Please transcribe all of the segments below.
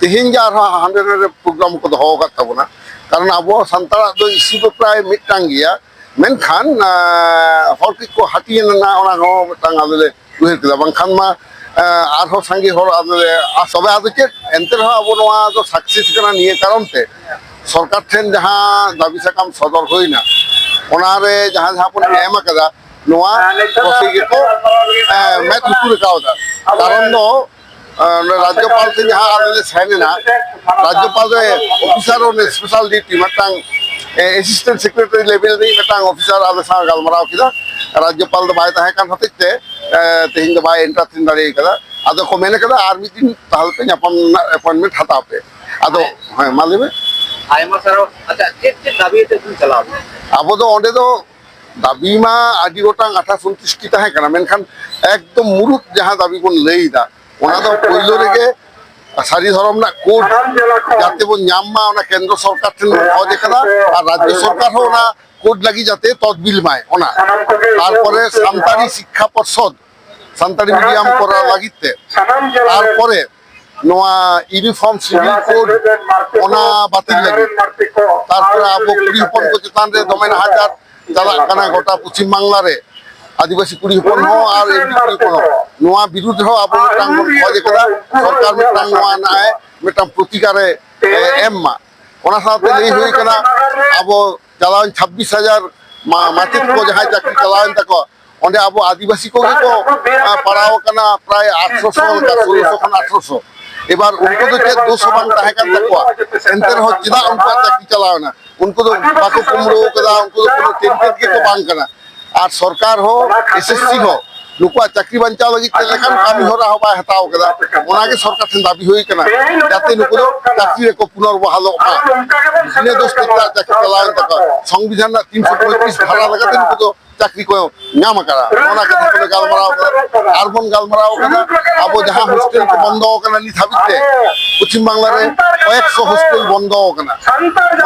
ᱛᱮᱦᱮᱧ ᱜᱮ ᱟᱨᱦᱚᱸ ᱦᱟᱸᱰᱮ ᱱᱟᱰᱮ ᱯᱨᱳᱜᱨᱟᱢ ᱠᱚ ᱫᱚᱦᱚ ᱟᱠᱟᱫ ᱛᱟᱵᱚᱱᱟ ᱠᱟᱨᱚᱱ ᱟᱵᱚ ᱥᱟᱱᱛᱟᱲᱟᱜ ᱫᱚ ᱤᱥᱤ ᱫᱚ ᱯᱨᱟᱭ ᱢᱤᱫᱴᱟᱝ ᱜᱮᱭᱟ ᱢᱮᱱᱠᱷᱟᱱ ᱦᱚᱲ ᱠᱚ ᱠᱚ ᱦᱟᱹᱴᱤᱧ ᱮᱱᱟ ᱚᱱᱟ ᱦᱚᱸ ᱢᱤᱫᱴᱟᱝ ᱟᱞᱮ ᱞᱮ ᱩᱭᱦᱟᱹᱨ ᱠᱮᱫᱟ ᱵᱟᱝᱠᱷᱟᱱ ᱢᱟ ᱟᱨᱦᱚᱸ ᱥᱟᱸᱜᱮ ᱦᱚᱲ ᱟᱞᱮ ᱞᱮ ᱛᱚᱵᱮ ᱟᱫᱚ ᱪᱮᱫ ᱮᱱᱛᱮ ᱨᱮᱦᱚᱸ ᱟᱵᱚ ᱱᱚᱣᱟ ᱫᱚ ᱥᱟᱠᱥᱮᱥ ᱠᱟᱱᱟ ᱱᱤᱭᱟᱹ ᱠᱟᱨᱚᱱ ᱛᱮ ᱥᱚᱨᱠᱟᱨ ᱴᱷᱮᱱ ᱡᱟᱦᱟᱸ ᱫᱟᱹᱵᱤ ᱥᱟᱠᱟᱢ ᱥᱚᱫᱚᱨ ᱦᱩᱭᱱᱟ ᱚᱱᱟᱨᱮ ᱡᱟᱦᱟᱸ ᱡᱟᱦᱟᱸ ᱵᱚᱱ ᱮᱢ ᱟᱠᱟᱫᱟ ᱱᱚᱣᱟ ᱯᱨᱚᱥᱮᱥ ᱜᱮᱠᱚ ᱢᱮᱫ ᱞᱩᱛᱩᱨ ᱟᱠᱟᱣᱫᱟ ᱠᱟᱨᱚᱱ ᱫᱚ ᱨᱟᱡᱽᱡᱚᱯᱟᱞ ᱴᱷᱮᱱ ᱡᱟᱦᱟᱸ ᱟᱞᱮ ᱞᱮ ᱥᱮᱱ ᱮᱱᱟ ᱨᱟᱡᱽᱡᱚᱯᱟᱞ ᱨᱮ ᱚᱯᱷᱤᱥᱟᱨ ᱚᱱ ᱥᱯᱮᱥᱟᱞ ᱰᱤᱭᱩᱴᱤ ᱢᱤᱫᱴᱟᱝ ᱮᱥᱤᱥᱴᱮᱱᱴ ᱥᱮᱠᱨᱮᱴᱟᱨᱤ ᱞᱮᱵᱮᱞ ᱨᱤᱱᱤᱡ ᱢᱤᱫᱴᱟᱝ ᱚᱯᱷᱤᱥᱟᱨ ᱟᱞᱮ ᱥᱟᱶ ᱜᱟᱞᱢᱟᱨᱟᱣ ᱠᱮᱫᱟ ᱨᱟᱡᱽᱡᱚᱯᱟᱞ ᱫᱚ ᱵᱟᱭ ᱛᱟᱦᱮᱸ ᱠᱟᱱ ᱦᱚᱛᱮᱡ ᱛᱮ ᱛᱮᱦᱮᱧ ᱫᱚ ᱵᱟᱭ ᱮᱱᱴᱟᱨᱴᱮᱱ ᱫᱟᱲᱮ ᱠᱟᱫᱟ ᱟᱫᱚ ᱠᱚ ᱢᱮᱱ ᱠᱟᱫᱟ ᱟᱨ ᱢᱤᱫ ᱫᱤᱱ ᱛᱟᱦᱚᱞᱮ ᱯᱮ ᱧᱟᱯᱟᱢ ᱨᱮᱱᱟᱜ ᱮᱯᱚᱭᱮᱱᱴᱢᱮᱱᱴ ᱦᱟᱛᱟᱣ ᱯᱮ ᱟᱫᱚ ᱦᱮᱸ ᱢᱟ ᱞᱟᱹᱭ ᱢᱮ ᱟᱭᱢᱟ ᱥᱟᱨᱦᱟᱣ ᱟᱪᱪᱷᱟ ᱪᱮᱫ ᱪᱮᱫ ᱫᱟᱹᱵᱤ ᱛᱮ ᱵᱚᱱ ᱪᱟᱞᱟᱣ ᱞᱮᱱᱟ ᱟᱵᱚ ᱫᱚ ᱚᱸᱰᱮ ᱫᱚ ᱫᱟᱹᱵᱤ ᱢᱟ ᱟᱹᱰᱤ ᱜᱚᱴᱟᱝ ᱟᱴᱷᱟ ᱥᱚᱱᱛᱩᱥᱴᱤ ᱛᱟᱦᱮᱸ ᱠᱟᱱᱟ ᱢᱮᱱᱠᱷᱟᱱ ᱮᱠᱫᱚᱢ ᱢᱩᱲᱩᱫ ᱡᱟᱦᱟᱸ ᱫᱟᱹᱵᱤ ᱵᱚᱱ ᱞᱟᱹᱭᱫᱟ ᱚᱱᱟ ᱫᱚ ᱯᱳᱭᱞᱳ ᱨᱮᱜᱮ ᱥᱟᱹᱨᱤ ᱫᱷᱚᱨᱚᱢ ᱨᱮᱱᱟᱜ ᱠᱳᱰ ᱡᱟᱛᱮ ᱵᱚᱱ ᱧᱟᱢ ᱢᱟ ᱚᱱᱟ ᱠᱮᱱᱫᱨᱚ ᱥᱚᱨᱠᱟᱨ ᱴᱷᱮᱱ ᱵᱚᱱ ᱠᱷᱚᱡᱽ ᱟᱠᱟᱫᱟ ᱟᱨ ᱨᱟᱡᱽᱡᱚ ᱥᱚᱨᱠᱟᱨ ᱦᱚᱸ ᱚᱱᱟ ᱠᱳᱰ ᱞᱟᱹᱜᱤᱫ ᱡᱟᱛᱮ ᱛᱚᱫᱵᱤᱞ ᱢᱟᱭ ᱚᱱᱟ ᱛᱟᱨᱯᱚᱨᱮ ᱥᱟᱱᱛᱟᱲᱤ ᱥᱤᱠᱠᱷᱟ ᱯᱚᱨᱥᱚᱫ ᱥᱟᱱᱛᱟᱲᱤ ᱢᱤᱰᱤᱭᱟᱢ ᱠᱚᱨᱟᱣ ᱞᱟᱹᱜᱤᱫ ᱛᱮ ᱛᱟᱨᱯᱚᱨᱮ ᱱᱚᱣᱟ ᱤᱭᱩᱱᱤᱯᱷᱚᱨᱢ ᱥᱤᱵᱤᱞ ᱠᱳᱰ ᱚᱱᱟ ᱵᱟᱹᱛᱤᱞ ᱞᱟᱹᱜᱤᱫ ᱛᱟᱨᱯᱚᱨᱮ ᱟᱵᱚ ᱠᱩᱲᱤ ᱦᱚᱯᱚᱱ ᱠᱚ ᱪᱮᱛᱟᱱ ᱨᱮ ᱫᱚᱢᱮ ᱱᱟᱦᱟᱪᱟᱨ ᱪᱟᱞᱟᱜ ᱠᱟᱱᱟ ᱜᱚᱴᱟ ᱯᱚᱪᱷᱤᱢ ᱵᱟᱝᱞᱟ ᱨᱮ ᱟᱹᱫᱤᱵᱟᱹᱥᱤ ᱠᱩᱲᱤ ᱦᱚᱯᱚᱱ ᱦᱚᱸ ᱟᱨ ᱮᱢᱱᱤ ᱠᱩᱲᱤ ᱦᱚᱯᱚᱱ ᱦᱚᱸ ᱱᱚᱣᱟ ᱵᱤᱨᱩᱫᱽ ᱨᱮᱦᱚᱸ ᱟᱵᱚ ᱢᱤᱫᱴᱟᱝ ᱵᱚᱱ ᱠᱷᱚᱡᱽ ᱠᱟᱫᱟ ᱥᱚᱨᱠᱟᱨ ᱢᱤᱫᱴᱟᱝ ᱱᱚᱣᱟ ᱨᱮᱱᱟᱜ ᱮ ᱢᱤᱫᱴᱟᱝ ᱯᱨᱚᱛᱤᱠᱟᱨᱮ ᱮᱢ ᱢᱟ ᱚᱱᱟ ᱥᱟᱶᱛᱮ ᱞᱟᱹᱭ ᱦᱩᱭ ᱠᱟᱱᱟ ᱟᱵᱚ ᱪᱟᱞᱟᱣᱮᱱ ᱪᱷᱟᱵᱵᱤᱥ ᱦᱟᱡᱟᱨ ᱢᱟᱪᱮᱫ ᱠᱚ ᱡᱟᱦᱟᱸᱭ ᱪᱟᱹᱠᱨᱤ ᱪᱟᱞᱟᱣᱮᱱ ᱛᱟᱠᱚᱣᱟ ᱚᱸᱰᱮ ᱟᱵᱚ ᱟᱹᱫᱤᱵᱟᱹᱥᱤ ᱠᱚᱜᱮ ᱠᱚ ᱯᱟᱲᱟᱣ ᱟᱠᱟᱱᱟ ᱯᱨᱟᱭ ᱟᱴᱷᱨᱚᱥᱚ ᱞᱮᱠᱟ ᱥᱳᱞᱳᱥᱚ ᱠᱷᱚᱱ ᱟᱴᱷᱨᱚᱥᱚ ᱮᱵᱟᱨ ᱩᱱᱠᱩ ᱫᱚ ᱪᱮᱫ ᱫᱳᱥ ᱦᱚᱸ ᱵᱟᱝ ᱛᱟᱦᱮᱸ ᱠᱟᱱ ᱛᱟᱠᱚᱣᱟ ᱮᱱᱛᱮ ᱨᱮᱦᱚᱸ ᱪᱮᱫᱟᱜ ᱩᱱᱠᱩᱣᱟᱜ ᱪᱟᱹᱠᱨᱤ ᱪᱟᱞᱟᱣᱮᱱᱟ ᱩᱱᱠᱩ ᱫᱚ ᱵᱟᱠᱚ ᱠᱩᱢᱲᱩ ᱟᱠᱟᱫᱟ ᱩᱱᱠᱩ ᱫᱚ ᱠᱳᱱᱳ ᱴᱮᱱᱴᱮᱰ ᱜᱮᱠᱚ ᱵᱟᱝ ᱠᱟᱱᱟ ᱟᱨ ᱥᱚᱨᱠᱟᱨ ᱦᱚᱸ ᱮᱥᱮᱥᱥᱤ ᱦᱚᱸ ᱱᱩᱠᱩᱣᱟᱜ ᱪᱟᱹᱠᱨᱤ ᱵᱟᱧᱪᱟᱣ ᱞᱟᱹᱜᱤᱫ ᱪᱮᱫ ᱞᱮᱠᱟᱱ ᱠᱟᱹᱢᱤ ᱦᱚᱨᱟ ᱦᱚᱸ ᱵᱟᱭ ᱦᱟᱛᱟᱣ ᱟᱠᱟᱫᱟ ᱚᱱᱟᱜᱮ ᱥᱚᱨᱠᱟᱨ ᱴᱷᱮᱱ ᱫᱟᱹᱵᱤ ᱦᱩᱭ ᱟᱠᱟᱱᱟ ᱡᱟᱛᱮ ᱱᱩᱠᱩ ᱫᱚ ᱪᱟᱹᱠᱨᱤ ᱨᱮᱠᱚ ᱯᱩᱱᱚᱨ ᱵᱚᱦᱟᱞᱚᱜ ᱢᱟ ᱵᱤᱱᱟᱹ ᱫᱳᱥ ᱛᱮ ᱪᱟᱹᱠᱨᱤ ᱪᱟᱞᱟᱣᱮᱱ ᱛᱟᱠᱚᱣᱟ ᱥᱚᱝᱵᱤᱫᱷᱟᱱ ᱨᱮᱱᱟᱜ ᱛᱤᱱᱥᱚ ᱯᱚᱸᱭᱛᱨᱤᱥ ᱫᱷᱟᱨᱟ ᱞᱮᱠᱟᱛᱮ ᱱᱩᱠᱩ ᱫᱚ ᱪᱟᱹᱠᱨᱤ ᱠᱚ ᱧᱟᱢ ᱟᱠᱟᱫᱟ ᱚᱱᱟ ᱠᱟᱛᱷᱟ ᱠᱚᱞᱮ ᱜᱟᱞᱢᱟᱨᱟᱣ ᱟᱠᱟᱫᱟ ᱟᱨ ᱵᱚᱱ ᱜᱟᱞᱢᱟᱨᱟᱣ ᱟᱠᱟᱫᱟ ᱟᱵᱚ ᱡᱟᱦᱟᱸ ᱦᱳᱥᱴᱮᱞ ᱠᱚ ᱵᱚᱱᱫᱚ ᱟᱠᱟᱱᱟ ᱱᱤᱛ ᱦᱟᱹᱵᱤᱡ ᱛᱮ ᱯᱚᱪᱷᱤᱢ ᱵᱟᱝᱞᱟ ᱨᱮ ᱠᱚᱭᱮᱠᱥᱚ ᱦᱳᱥᱴᱮᱞ ᱵᱚᱱᱫᱚ ᱟᱠᱟᱱᱟ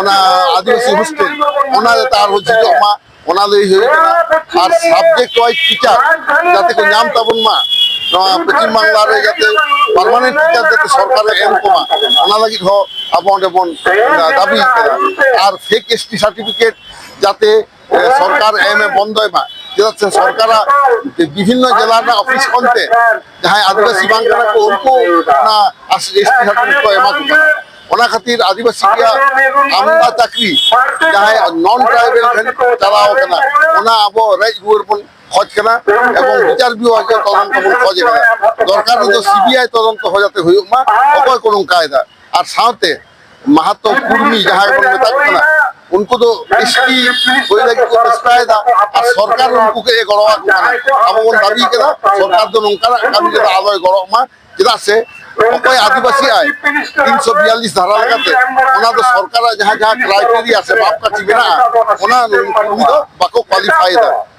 ᱚᱱᱟ ᱟᱹᱫᱤᱵᱟᱹᱥᱤ ᱦᱳᱥᱴᱮᱞ ᱚᱱᱟ ᱡᱟᱛᱮ ᱟᱨᱦᱚᱸ ᱡᱷᱤᱡᱚᱜ ᱢᱟ ᱚᱱᱟ ᱞᱟᱹᱭ ᱦᱩᱭ ᱟᱠᱟᱱᱟ ᱟᱨ ᱥᱟᱵᱡᱮᱠᱴ ᱣᱟᱭᱤᱡ ᱴᱤᱪᱟᱨ ᱡᱟᱛᱮ ᱠᱚ ᱧᱟᱢ ᱛᱟᱵᱚᱱ ᱢᱟ ᱱᱚᱣᱟ ᱯᱚᱪᱷᱤᱢ ᱵᱟᱝᱞᱟ ᱨᱮ ᱡᱟᱛᱮ ᱯᱟᱨᱢᱟᱱᱮᱱᱴ ᱴᱤᱪᱟᱨ ᱡᱟᱛᱮ ᱥᱚᱨᱠᱟᱨ ᱮ ᱮᱢ ᱠᱚᱢᱟ ᱚᱱᱟ ᱞᱟᱹᱜᱤᱫ ᱦᱚᱸ ᱟᱵᱚ ᱚᱸᱰᱮ ᱵᱚᱱ ᱫᱟᱹᱵᱤ ᱟᱠᱟᱫᱟ ᱟᱨ ᱯᱷᱮᱠ ᱮᱥ ᱴᱤ ᱥᱟᱨᱴᱤᱯᱷᱤᱠᱮᱴ ᱡᱟᱛᱮ ᱥᱚᱨᱠᱟᱨ ᱮᱢᱮ ᱵᱚᱱᱫᱚᱭ ᱢᱟ ᱪᱮᱫᱟᱜ ᱥᱮ ᱥᱚᱨᱠᱟᱨᱟᱜ ᱵᱤᱵᱷᱤᱱᱱᱚ ᱡᱮᱞᱟ ᱨᱮᱱᱟᱜ ᱚᱯᱷᱤᱥ ᱠᱷᱚᱱ ᱛᱮ ᱡᱟᱦᱟᱸᱭ ᱟᱹᱫᱤᱵᱟᱹᱥᱤ ᱵᱟᱝ ᱠᱟᱱᱟ ᱠᱚ ᱩᱱᱠᱩ ᱚᱱᱟ ᱮᱥ ᱴᱤ ᱥᱟᱨᱴᱤᱯᱷᱤᱠᱮᱴ ᱠᱚ ᱮᱢᱟ ᱠᱚ ᱠᱟᱱᱟ ᱚᱱᱟ ᱠᱷᱟᱹᱛᱤᱨ ᱟᱹᱫᱤᱵᱟᱹᱥᱤ ᱨᱮᱭᱟᱜ ᱟᱢᱫᱟ ᱪᱟᱹᱠᱨᱤ ᱡᱟᱦᱟᱸᱭ ᱱᱚᱱ ᱴᱨᱟᱭᱵᱮᱞ ᱴᱷᱮᱱ ᱪᱟᱞᱟᱣ ᱠᱟᱱᱟ ᱚᱱᱟ ᱟᱵᱚ ᱨᱮᱡ ᱨᱩᱣᱟᱹᱲ ᱵᱚᱱ ᱠᱷᱚᱡ ᱠᱟᱱᱟ ᱮᱵᱚᱝ ᱵᱤᱪᱟᱨ ᱵᱤᱵᱷᱟᱜᱽ ᱛᱚᱫᱚᱱᱛᱚ ᱵᱚᱱ ᱠᱷᱚᱡ ᱠᱟᱱᱟ ᱫᱚᱨᱠᱟᱨ ᱫᱚ ᱥᱤᱵᱤᱟᱭ ᱛᱚᱫᱚᱱᱛᱚ ᱦᱚᱸ ᱡᱟᱛᱮ ᱦᱩᱭᱩᱜ ᱢᱟ ᱚᱠᱚᱭ ᱠᱚ ᱱᱚᱝᱠᱟᱭᱮᱫᱟ ᱟᱨ ᱥᱟᱶᱛᱮ ᱢᱟᱦᱟᱛᱚ ᱠᱩᱨᱢᱤ ᱡᱟᱦᱟᱸᱭ ᱵᱚᱱ ᱢᱮᱛᱟ ᱠᱚ ᱠᱟᱱᱟ ᱩᱱᱠᱩ ᱫᱚ ᱮᱥᱴᱤ ᱦᱩᱭ ᱞᱟᱹᱜᱤᱫ ᱠᱚ ᱪᱮᱥᱴᱟᱭᱮᱫᱟ ᱟᱨ ᱥᱚᱨᱠᱟᱨ ᱩᱱᱠᱩ ᱠᱚ ᱮ ᱜᱚᱲᱚ ᱟᱠᱚ ᱠᱟᱱᱟ ᱟᱵᱚ ᱵᱚᱱ ᱫᱟᱹᱵᱤ ᱠᱮᱫᱟ ᱥᱚᱨᱠᱟᱨ ᱫᱚ ᱱᱚᱝᱠᱟᱱᱟᱜ ᱠᱟᱹᱢᱤ ᱨᱮᱫᱚ ᱟᱞᱚᱭ ᱜᱚᱲᱚᱜ ᱢᱟ ᱪᱮᱫᱟᱜ ᱥᱮ ᱚᱠᱚᱭ ᱟᱹᱫᱤᱵᱟᱹᱥᱤ ᱟᱭ ᱛᱤᱱᱥᱚ ᱵᱤᱭᱟᱞᱞᱤᱥ ᱫᱷᱟᱨᱟ ᱞᱮᱠᱟᱛᱮ ᱚᱱᱟ ᱫᱚ ᱥᱚᱨᱠᱟᱨᱟᱜ ᱡᱟᱦᱟᱸ ᱡᱟᱦᱟᱸ ᱠᱨᱟᱭᱴᱮᱨᱤᱭᱟ ᱥᱮ ᱢᱟᱯᱠᱟᱴᱷᱤ ᱢᱮᱱᱟᱜᱼᱟ ᱚᱱᱟ ᱩᱱᱠᱩ ᱫᱚ ᱵᱟᱠᱚ ᱠᱳᱣᱟᱞᱤᱯᱷᱟᱭᱮᱫᱟ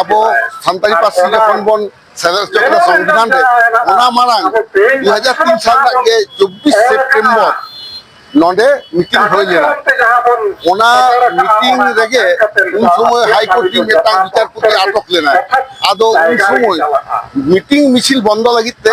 ᱟᱵᱚ ᱥᱟᱱᱛᱟᱲᱤ ᱯᱟᱹᱨᱥᱤ ᱡᱚᱠᱷᱚᱱ ᱵᱚᱱ ᱥᱮᱞᱮᱫ ᱦᱚᱪᱚ ᱠᱮᱫᱟ ᱥᱚᱝᱵᱤᱫᱷᱟᱱ ᱨᱮ ᱚᱱᱟ ᱢᱟᱲᱟᱝ ᱫᱩ ᱦᱟᱡᱟᱨ ᱛᱤᱱ ᱥᱟᱞ ᱨᱮᱱᱟᱜ ᱜᱮ ᱪᱚᱵᱵᱤᱥ ᱥᱮᱯᱴᱮᱢᱵᱚᱨ ᱱᱚᱰᱮ ᱢᱤᱴᱤᱝ ᱦᱩᱭ ᱞᱮᱱᱟ ᱚᱱᱟ ᱢᱤᱴᱤᱝ ᱨᱮᱜᱮ ᱩᱱ ᱥᱚᱢᱚᱭ ᱦᱟᱭᱠᱳᱨᱴ ᱨᱤᱱ ᱢᱤᱫᱴᱟᱝ ᱵᱤᱪᱟᱨᱯᱚᱛᱤ ᱟᱴᱚᱠ ᱞᱮᱱᱟᱭ ᱟᱫᱚ ᱩᱱ ᱥᱚᱢᱚᱭ ᱢᱤᱴᱤᱝ ᱢᱤᱪᱷᱤᱞ ᱵᱚᱱᱫᱚ ᱞᱟᱹᱜᱤᱫ ᱛᱮ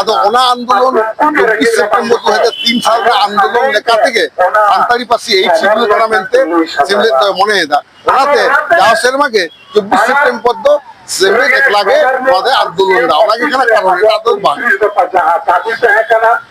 ᱟᱫᱚ ᱚᱱᱟ ᱟᱱᱫᱳᱞᱚᱱ ᱪᱚᱵᱵᱤᱥ ᱥᱮᱯᱴᱮᱢᱵᱚᱨ ᱫᱩ ᱦᱟᱡᱟᱨ ᱛᱤᱱ ᱥᱟᱞ ᱨᱮ ᱟᱱᱫᱳᱞᱚᱱ ᱞᱮᱠᱟ ᱛᱮᱜᱮ ᱥᱟᱱᱛᱟᱲᱤ ᱯᱟᱹᱨᱥᱤ ᱮᱭᱤᱴ ᱥᱤᱰᱩᱞ ᱠᱟᱱᱟ ᱢᱮᱱᱛᱮ ᱥᱮᱢᱞᱮᱫ ᱫᱚᱭ ᱢᱚᱱᱮᱭᱮᱫᱟ ᱚᱱᱟᱛᱮ ᱡᱟᱣ ᱥᱮᱨᱢᱟ ᱜᱮ ᱪᱚᱵᱵᱤᱥ ᱥᱮᱯᱴᱮᱢᱵᱚᱨ ᱫᱚ ᱥᱮᱢᱞᱮᱫ ᱮᱠᱞᱟ ᱜᱮ ᱱᱚᱣᱟ ᱫᱚᱭ ᱟᱱᱫᱳᱞᱚᱱ ᱮᱫᱟ ᱚᱱᱟᱜᱮ ᱠᱟᱱᱟ ᱠᱟᱨᱚᱱ ᱮᱴᱟᱜ ᱫᱚ ᱵᱟᱝ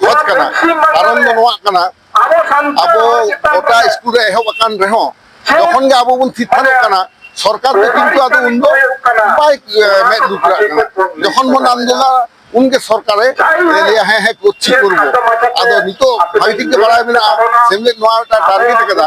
ᱦᱚᱡᱽ ᱠᱟᱱᱟ ᱠᱟᱨᱚᱱ ᱫᱚ ᱱᱚᱣᱟ ᱠᱟᱱᱟ ᱟᱵᱚ ᱜᱚᱴᱟ ᱥᱠᱩᱞ ᱨᱮ ᱮᱦᱚᱵ ᱟᱠᱟᱱ ᱨᱮᱦᱚᱸ ᱡᱚᱠᱷᱚᱱ ᱜᱮ ᱟᱵᱚ ᱵᱚᱱ ᱛᱷᱤᱨ ᱛᱷᱟᱨᱚᱜ ᱠᱟᱱᱟ ᱥᱚᱨᱠᱟᱨ ᱫᱚ ᱠᱤᱱᱛᱩ ᱟᱫᱚ ᱩᱱ ᱫᱚ ᱵᱟᱭ ᱢᱮᱫ ᱞᱩᱛᱩᱨᱟᱜ ᱠᱟᱱᱟ ᱡᱚᱠᱷᱚᱱ ᱵᱚᱱ ᱟᱱᱫᱳᱞᱚᱱᱟ ᱩᱱᱜᱮ ᱥᱚᱨᱠᱟᱨᱮ ᱞᱟᱹᱭᱟ ᱦᱮᱸ ᱦᱮᱸ ᱠᱚᱨᱪᱷᱤ ᱠᱚᱨᱵᱚ ᱟᱫᱚ ᱱᱤᱛᱚᱜ ᱵᱷᱟᱹᱜᱤ ᱴᱷᱤᱠ ᱜᱮ ᱵᱟᱲᱟᱭ ᱢᱮᱱᱟᱜᱼᱟ ᱥᱮᱢᱞᱮᱫ ᱱᱚᱣᱟ ᱢᱤᱫᱴᱟᱝ ᱴᱟᱨᱜᱮᱴ ᱟᱠᱟᱫᱟ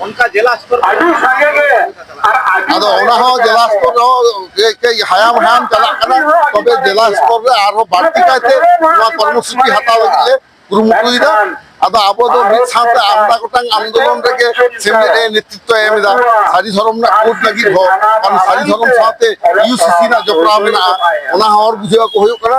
ᱚᱱᱠᱟ ᱡᱮᱞᱟ ᱥᱛᱚᱨ ᱟᱹᱰᱤ ᱥᱟᱸᱜᱮ ᱜᱮ ᱟᱨ ᱟᱹᱰᱤ ᱟᱫᱚ ᱚᱱᱟ ᱦᱚᱸ ᱡᱮᱞᱟ ᱥᱛᱚᱨ ᱨᱮᱦᱚᱸ ᱠᱟᱹᱡ ᱦᱟᱭᱟᱢ ᱦᱟᱭᱟᱢ ᱪᱟᱞᱟᱜ ᱠᱟᱱᱟ ᱛᱚᱵᱮ ᱡᱮᱞᱟ ᱥᱛᱚᱨ ᱨᱮ ᱟᱨᱦᱚᱸ ᱵᱟᱹᱲᱛᱤ ᱠᱟᱭᱛᱮ ᱱᱚᱣᱟ ᱠᱚᱨᱢᱚᱥᱩᱪᱤ ᱦᱟᱛᱟᱣ ᱞᱟᱹᱜᱤᱫ ᱞᱮ ᱠᱩᱨᱩᱢᱩᱴᱩᱭᱮᱫᱟ ᱟᱫᱚ ᱟᱵᱚ ᱫᱚ ᱢᱤᱫ ᱥᱟᱶᱛᱮ ᱟᱢᱫᱟ ᱜᱚᱴᱟᱝ ᱟᱱᱫᱳᱞᱚᱱ ᱨᱮᱜᱮ ᱥᱮᱢᱞᱮᱫ ᱮ ᱱᱮᱛᱨᱤᱛᱵ ᱮᱢ ᱮᱫᱟ ᱥᱟᱹᱨᱤ ᱫᱷᱚᱨᱚᱢ ᱨᱮᱱᱟᱜ ᱠᱳᱰ ᱞᱟᱹᱜᱤᱫ ᱦᱚᱸ ᱠᱟᱨᱚᱱ ᱥᱟᱹᱨᱤ ᱫᱷᱚᱨᱚᱢ ᱥᱟᱶᱛᱮ ᱤᱭᱩᱥᱤᱥᱤ ᱨᱮᱱᱟᱜ ᱡᱚᱯᱲᱟᱣ ᱢᱮᱱᱟᱜᱼᱟ ᱚᱱᱟ ᱦᱚᱸ ᱦᱚᱲ ᱵᱩᱡᱷᱟᱹᱣ ᱟᱠᱚ ᱦᱩᱭᱩᱜ ᱠᱟᱱᱟ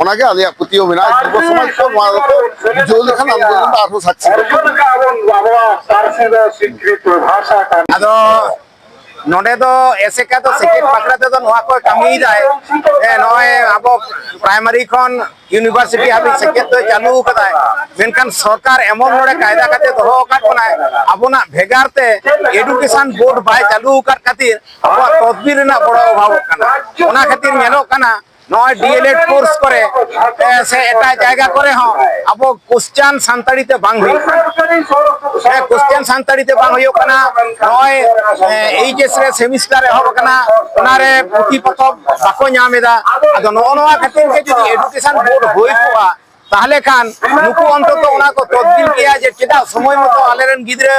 ᱚᱱᱟᱜᱮ ᱟᱞᱮᱭᱟᱜ ᱯᱟᱹᱛᱭᱟᱹᱣ ᱢᱮᱱᱟᱜᱼᱟ ᱡᱩᱵᱚ ᱥᱚᱢᱟᱡᱽ ᱠᱚ ᱱᱚᱣᱟ ᱫᱚᱠᱚ ᱵᱩᱡᱷᱟᱹᱣ ᱞᱮᱠᱷᱟᱱ ᱟᱱᱫᱳᱞᱚᱱ ᱫᱚ ᱟᱨᱦᱚᱸ ᱥᱟᱠᱥᱮᱥ ᱟᱫᱚ ᱱᱚᱰᱮ ᱫᱚ ᱮᱥᱮᱠᱟ ᱫᱚ ᱥᱮᱪᱮᱫ ᱵᱟᱠᱷᱨᱟ ᱛᱮᱫᱚ ᱱᱚᱣᱟ ᱠᱚ ᱠᱟᱹᱢᱤᱭᱮᱫᱟᱭ ᱱᱚᱜᱼᱚᱭ ᱟᱵᱚ ᱯᱨᱟᱭᱢᱟᱨᱤ ᱠᱷᱚᱱ ᱤᱭᱩᱱᱤᱵᱷᱟᱨᱥᱤᱴᱤ ᱦᱟᱹᱵᱤᱡ ᱥᱮᱪᱮᱫ ᱫᱚᱭ ᱪᱟᱹᱞᱩ ᱟᱠᱟᱫᱟᱭ ᱢᱮᱱᱠᱷᱟᱱ ᱥᱚᱨᱠᱟᱨ ᱮᱢᱚᱱ ᱱᱚᱰᱮ ᱠᱟᱭᱫᱟ ᱠᱟᱛᱮ ᱫᱚᱦᱚ ᱟᱠᱟᱫ ᱵᱚᱱᱟᱭ ᱟᱵᱚᱱᱟᱜ ᱵᱷᱮᱜᱟᱨ ᱛᱮ ᱮᱰᱩᱠᱮᱥᱚᱱ ᱵᱳᱨᱰ ᱵᱟᱭ ᱪᱟᱹᱞᱩ ᱟᱠᱟᱫ ᱠᱷᱟᱹᱛᱤᱨ ᱟᱵᱚᱣᱟᱜ ᱛᱚᱫᱵᱤᱨ ᱨᱮᱱᱟᱜ ᱵᱚᱲᱚ ᱚᱵᱷᱟᱵᱚᱜ ᱠᱟᱱᱟ ᱚᱱᱟ ᱠᱷᱟᱹᱛᱤᱨ ᱧᱮᱞᱚᱜ ᱠᱟᱱᱟ ᱱᱚᱜᱼᱚᱭ ᱰᱤᱮᱞᱮᱰ ᱠᱳᱨᱥ ᱠᱚᱨᱮ ᱥᱮ ᱮᱴᱟᱜ ᱡᱟᱭᱜᱟ ᱠᱚᱨᱮ ᱦᱚᱸ ᱟᱵᱚ ᱠᱚᱥᱪᱟᱱ ᱥᱟᱱᱛᱟᱲᱤ ᱛᱮ ᱵᱟᱝ ᱦᱩᱭᱩᱜ ᱠᱟᱱᱟ ᱠᱚᱥᱪᱟᱱ ᱥᱟᱱᱛᱟᱲᱤ ᱛᱮ ᱵᱟᱝ ᱦᱩᱭᱩᱜ ᱠᱟᱱᱟ ᱱᱚᱜᱼᱚᱭ ᱮᱭᱤᱪᱮᱥ ᱨᱮ ᱥᱮᱢᱤᱥᱴᱟᱨ ᱮᱦᱚᱵ ᱟᱠᱟᱱᱟ ᱚᱱᱟᱨᱮ ᱯᱩᱛᱷᱤ ᱯᱚᱛᱚᱵ ᱵᱟᱠᱚ ᱧᱟᱢ ᱮᱫᱟ ᱟᱫᱚ ᱱᱚᱜᱼᱚ ᱱᱚᱣᱟ ᱠᱷᱟᱹᱛᱤᱨ ᱜᱮ ᱡᱩᱫᱤ ᱮᱰᱩᱠᱮᱥᱚᱱ ᱵᱳᱨᱰ ᱦᱩᱭ ᱠᱚᱜᱼᱟ ᱛᱟᱦᱚᱞᱮ ᱠᱷᱟᱱ ᱱᱩᱠᱩ ᱚᱱᱛᱚᱛᱚ ᱚᱱᱟ ᱠᱚ ᱛᱚᱫᱵᱤᱞ ᱠᱮᱭᱟ ᱡᱮ ᱪᱮᱫᱟᱜ ᱥᱚᱢᱚᱭ ᱢᱚᱛᱚ ᱟᱞᱮᱨᱮᱱ ᱜᱤᱫᱽᱨᱟᱹ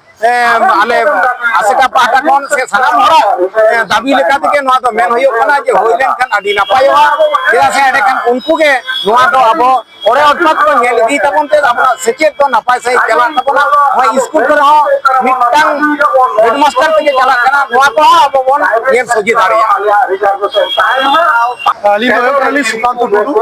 ᱟᱞᱮ ᱟᱥᱮᱠᱟ ᱯᱟᱦᱴᱟ ᱠᱷᱚᱱ ᱥᱮ ᱥᱟᱱᱟᱢ ᱦᱚᱲᱟᱜ ᱫᱟᱹᱵᱤ ᱞᱮᱠᱟ ᱛᱮᱜᱮ ᱱᱚᱣᱟ ᱫᱚ ᱢᱮᱱ ᱦᱩᱭᱩᱜ ᱠᱟᱱᱟ ᱡᱮ ᱦᱩᱭ ᱞᱮᱱᱠᱷᱟᱱ ᱟᱹᱰᱤ ᱱᱟᱯᱟᱭᱚᱜᱼᱟ ᱪᱮᱫᱟᱜ ᱥᱮ ᱮᱸᱰᱮᱠᱷᱟᱱ ᱩᱱᱠᱩ ᱜᱮ ᱱᱚᱣᱟ ᱫᱚ ᱟᱵᱚ ᱚᱲᱮ ᱚᱴᱯᱟᱛ ᱠᱚ ᱧᱮᱞ ᱤᱫᱤ ᱛᱟᱵᱚᱱ ᱛᱮ ᱟᱵᱚᱣᱟᱜ ᱥᱮᱪᱮᱫ ᱫᱚ ᱱᱟᱯᱟᱭ ᱥᱟᱺᱦᱤᱡ ᱪᱟᱞᱟᱜ ᱛᱟᱵᱚᱱᱟ ᱱᱚᱣᱟ ᱤᱥᱠᱩᱞ ᱠᱚᱨᱮ ᱦᱚᱸ ᱢᱤᱫᱴᱟᱝ ᱦᱮᱰᱢᱟᱥᱴᱟᱨ ᱛᱮᱜᱮ ᱪᱟᱞᱟᱜ ᱠᱟᱱᱟ ᱱᱚᱣᱟ ᱠᱚᱦᱚᱸ ᱟᱵᱚ ᱵᱚᱱ ᱧᱮᱞ ᱥᱚᱡᱷᱮ ᱫᱟᱲᱮᱭᱟᱜᱼᱟ ᱟᱹᱞᱤᱧ ᱫᱚ ᱦᱩᱭᱩᱜ ᱠᱟᱱᱟᱞᱤᱧ ᱥᱩᱠᱟᱱᱛᱚ ᱴᱩᱰᱩ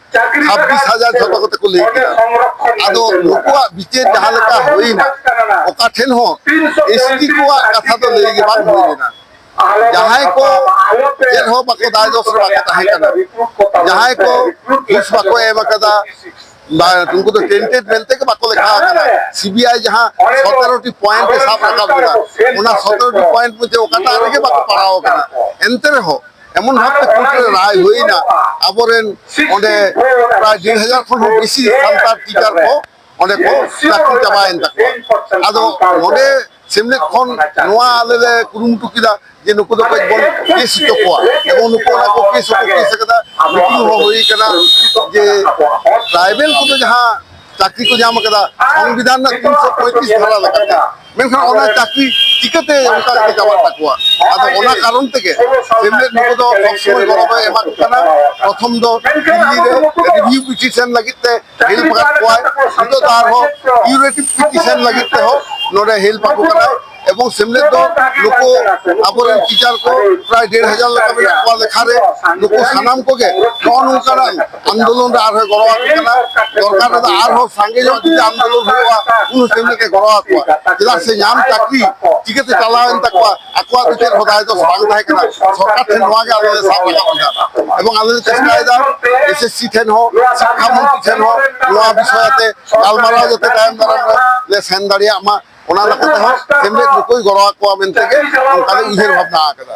ᱪᱷᱟᱵᱵᱤᱥ ᱦᱟᱡᱟᱨ ᱡᱷᱚᱛᱚ ᱠᱚᱛᱮ ᱠᱚ ᱞᱟᱹᱭ ᱠᱮᱫᱟ ᱟᱫᱚ ᱱᱩᱠᱩᱣᱟᱜ ᱵᱤᱪᱟᱹᱨ ᱡᱟᱦᱟᱸ ᱞᱮᱠᱟ ᱦᱩᱭᱱᱟ ᱚᱠᱟ ᱴᱷᱮᱱ ᱦᱚᱸ ᱮᱥᱴᱤ ᱠᱚᱣᱟᱜ ᱠᱟᱛᱷᱟ ᱫᱚ ᱞᱟᱹᱭ ᱜᱮ ᱵᱟᱝ ᱦᱩᱭ ᱞᱮᱱᱟ ᱡᱟᱦᱟᱸᱭ ᱠᱚ ᱪᱮᱫ ᱦᱚᱸ ᱵᱟᱠᱚ ᱫᱟᱭ ᱫᱚᱥ ᱨᱮ ᱵᱟᱠᱚ ᱛᱟᱦᱮᱸ ᱠᱟᱱᱟ ᱡᱟᱦᱟᱸᱭ ᱠᱚ ᱜᱷᱩᱥ ᱵᱟᱠᱚ ᱮᱢ ᱟᱠᱟᱫᱟ ᱩᱱᱠᱩ ᱫᱚ ᱴᱮᱱᱴᱮᱰ ᱢᱮᱱᱛᱮ ᱜᱮ ᱵᱟᱠᱚ ᱞᱮᱠᱷᱟ ᱟᱠᱟᱱᱟ ᱥᱤᱵᱤᱟᱭ ᱡᱟᱦᱟᱸ ᱥᱚᱛᱮᱨᱚᱴᱤ ᱯᱚᱭᱮᱱᱴ ᱮ ᱥᱟᱵ ᱨᱟᱠᱟᱵ ᱞᱮᱫᱟ ᱚᱱᱟ ᱥᱚᱛᱮᱨᱚᱴᱤ ᱯᱚᱭᱮᱱᱴ ᱢᱚᱫᱽᱫᱷᱮ ᱚᱠᱟᱴᱟᱜ ᱨᱮᱜᱮ ᱵᱟᱠᱚ ᱯᱟᱲᱟᱣ ᱟᱠᱟᱱᱟ ᱮᱱᱛᱮ ᱨᱮᱦᱚᱸ ᱮᱢᱚᱱ ᱵᱷᱟᱵᱛᱮ ᱠᱳᱨᱴ ᱨᱮ ᱨᱟᱭ ᱦᱩᱭᱱᱟ ᱟᱵᱚᱨᱮᱱ ᱚᱸᱰᱮ ᱯᱨᱟᱭ ᱰᱮᱲ ᱦᱟᱡᱟᱨ ᱠᱷᱚᱱ ᱦᱚᱸ ᱵᱮᱥᱤ ᱥᱟᱱᱛᱟᱲ ᱴᱤᱪᱟᱨ ᱠᱚ ᱚᱸᱰᱮ ᱠᱚ ᱪᱟᱹᱠᱨᱤ ᱪᱟᱵᱟᱭᱮᱱ ᱛᱟᱠᱚᱣᱟ ᱟᱫᱚ ᱱᱚᱰᱮ ᱥᱮᱢᱞᱮᱫ ᱠᱷᱚᱱ ᱱᱚᱣᱟ ᱟᱞᱮ ᱞᱮ ᱠᱩᱨᱩᱢᱩᱴᱩ ᱠᱮᱫᱟ ᱡᱮ ᱱᱩᱠᱩ ᱫᱚ ᱠᱟᱹᱡ ᱵᱚᱱ ᱠᱮᱥ ᱦᱚᱪᱚ ᱠᱚᱣᱟ ᱮᱵᱚᱝ ᱱᱩᱠᱩ ᱚᱱᱟ ᱠᱚ ᱠᱮᱥ ᱦᱚᱸᱠᱚ ᱠᱮᱥ ᱟᱠᱟᱫᱟ ᱢᱤᱴᱤᱝ ᱦᱚᱸ ᱦᱩᱭ ᱟᱠᱟᱱᱟ ᱡᱮ ᱴᱨᱟᱭᱵᱮᱞ ᱠᱚᱫᱚ ᱡᱟᱦᱟᱸ ᱪᱟᱹᱠᱨᱤ ᱠᱚ ᱧᱟᱢ ᱟᱠᱟᱫᱟ ᱥᱚᱝᱵᱤᱫᱷᱟᱱ ᱨᱮᱱᱟᱜ ᱛᱤᱱᱥᱚ ᱯᱚᱸᱭᱛᱨᱤᱥ ᱫᱷᱟᱨᱟ ᱞᱮᱠᱟᱛᱮ ᱢᱮᱱᱠᱷᱟᱱ ᱚᱱᱟ ᱪᱟᱹᱠᱨᱤ ᱪᱤᱠᱟᱹᱛᱮ ᱚᱱᱠᱟ ᱠᱟᱛᱮ ᱪᱟᱵᱟᱜ ᱛᱟᱠᱚᱣᱟ ᱟᱫᱚ ᱚᱱᱟ ᱠᱟᱨᱚᱱ ᱛᱮᱜᱮ ᱥᱮᱢᱞᱮᱫ ᱱᱩᱠᱩ ᱫᱚ ᱥᱚᱵᱥᱚᱢᱚᱭ ᱜᱚᱲᱚ ᱫᱚᱭ ᱮᱢᱟ ᱠᱚ ᱠᱟᱱᱟ ᱯᱨᱚᱛᱷᱚᱢ ᱫᱚ ᱫᱤᱞᱞᱤ ᱨᱮ ᱨᱤᱵᱷᱤᱭᱩ ᱯᱤᱴᱤᱥᱚᱱ ᱞᱟᱹᱜᱤᱫ ᱛᱮ ᱦᱮᱞᱯ ᱟᱠᱟᱫ ᱠᱚᱣᱟᱭ ᱱᱤᱛᱚᱜ ᱫᱚ ᱟᱨᱦᱚᱸ ᱠᱤউᱨᱮᱴᱤᱵᱷ ᱯᱤᱴᱤᱥᱚᱱ ᱞᱟᱹᱜᱤᱫ ᱛᱮᱦᱚᱸ ᱱᱚᱰᱮ ᱦᱮᱞᱯ ᱟᱠᱚ ᱠᱟᱱᱟᱭ ᱮᱵᱚᱝ ᱥᱮᱢᱞᱮᱫ ᱫᱚ ᱱᱩᱠᱩ ᱟᱵᱚᱨᱮᱱ ᱴᱤᱪᱟᱨ ᱠᱚ ᱯᱨᱟᱭ ᱰᱮᱲ ᱦᱟᱡᱟᱨ ᱞᱮᱠᱟ ᱢᱮᱱᱟᱜ ᱠᱚᱣᱟ ᱞᱮᱠᱷᱟ ᱨᱮ ᱱᱩᱠᱩ ᱥᱟᱱᱟᱢ ᱠᱚᱜᱮ ᱱᱚᱜᱼᱚ ᱱᱚᱝᱠᱟᱱᱟᱜ ᱟᱱᱫᱳᱞᱚᱱ ᱨᱮ ᱟᱨᱦᱚᱸ ᱜᱚᱲᱚ ᱟᱠᱚ ᱠᱟᱱᱟ ᱫᱚᱨᱠᱟᱨ ᱨᱮᱫᱚ ᱟᱨᱦᱚᱸ ᱥᱟᱸᱜᱮ ᱧᱚᱜ ᱡᱩᱫᱤ ᱟᱱᱫᱳᱞᱚᱱ ᱦᱩᱭᱩᱜᱼᱟ ᱩᱱ ᱥᱮᱢᱞᱮ ᱛᱮ ᱜᱚᱲᱚ ᱟᱠᱚᱣᱟ ᱪᱮᱫᱟᱜ ᱥᱮ ᱧᱟᱢ ᱪᱟᱹᱠᱨᱤ ᱪᱤᱠᱟᱹᱛᱮ ᱪᱟᱞᱟᱣᱮᱱ ᱛᱟᱠᱚᱣᱟ ᱟᱠᱚᱣᱟᱜ ᱫᱚ ᱪᱮᱫ ᱦᱚᱸ ᱫᱟᱭ ᱫᱚ ᱵᱟᱝ ᱛᱟᱦᱮᱸ ᱠᱟᱱᱟ ᱥᱚᱨᱠᱟᱨ ᱴᱷᱮᱱ ᱱᱚᱣᱟ ᱜᱮ ᱟᱞᱮ ᱞᱮ ᱥᱟᱵ ᱨᱟᱠᱟᱵ ᱮᱫᱟ ᱮᱵᱚᱝ ᱟᱞᱮ ᱞᱮ ᱪᱮᱥᱴᱟᱭᱮᱫᱟ ᱮᱥᱮᱥᱥᱤ ᱴᱷᱮᱱ ᱦᱚᱸ ᱥᱤᱠᱠᱷᱟ ᱢᱚᱱᱛᱨᱤ ᱴᱷᱮᱱ ᱦᱚᱸ ᱱᱚᱣᱟ ᱵᱤᱥᱚᱭ ᱟᱛᱮ ᱜᱟᱞᱢᱟᱨᱟᱣ ᱡᱟᱛᱮ ᱛᱟᱭᱚᱢ ᱫᱟᱨᱟᱢ ᱨᱮ ᱞᱮ ᱥᱮᱱ ᱫᱟᱲᱮᱭᱟᱜ ᱢᱟ ᱚᱱᱟ ᱞᱮᱠᱟᱛᱮ ᱦᱚᱸ ᱥᱮᱢᱞᱮᱫ ᱱᱩᱠᱩᱭ ᱜᱚᱲᱚ ᱟᱠᱚᱣᱟ ᱢᱮᱱᱛᱮ ᱜᱮ ᱚᱱᱠᱟ ᱞᱮ ᱩᱭᱦᱟᱹᱨ ᱵᱷᱟᱵᱽᱱᱟ ᱟᱠᱟᱫᱟ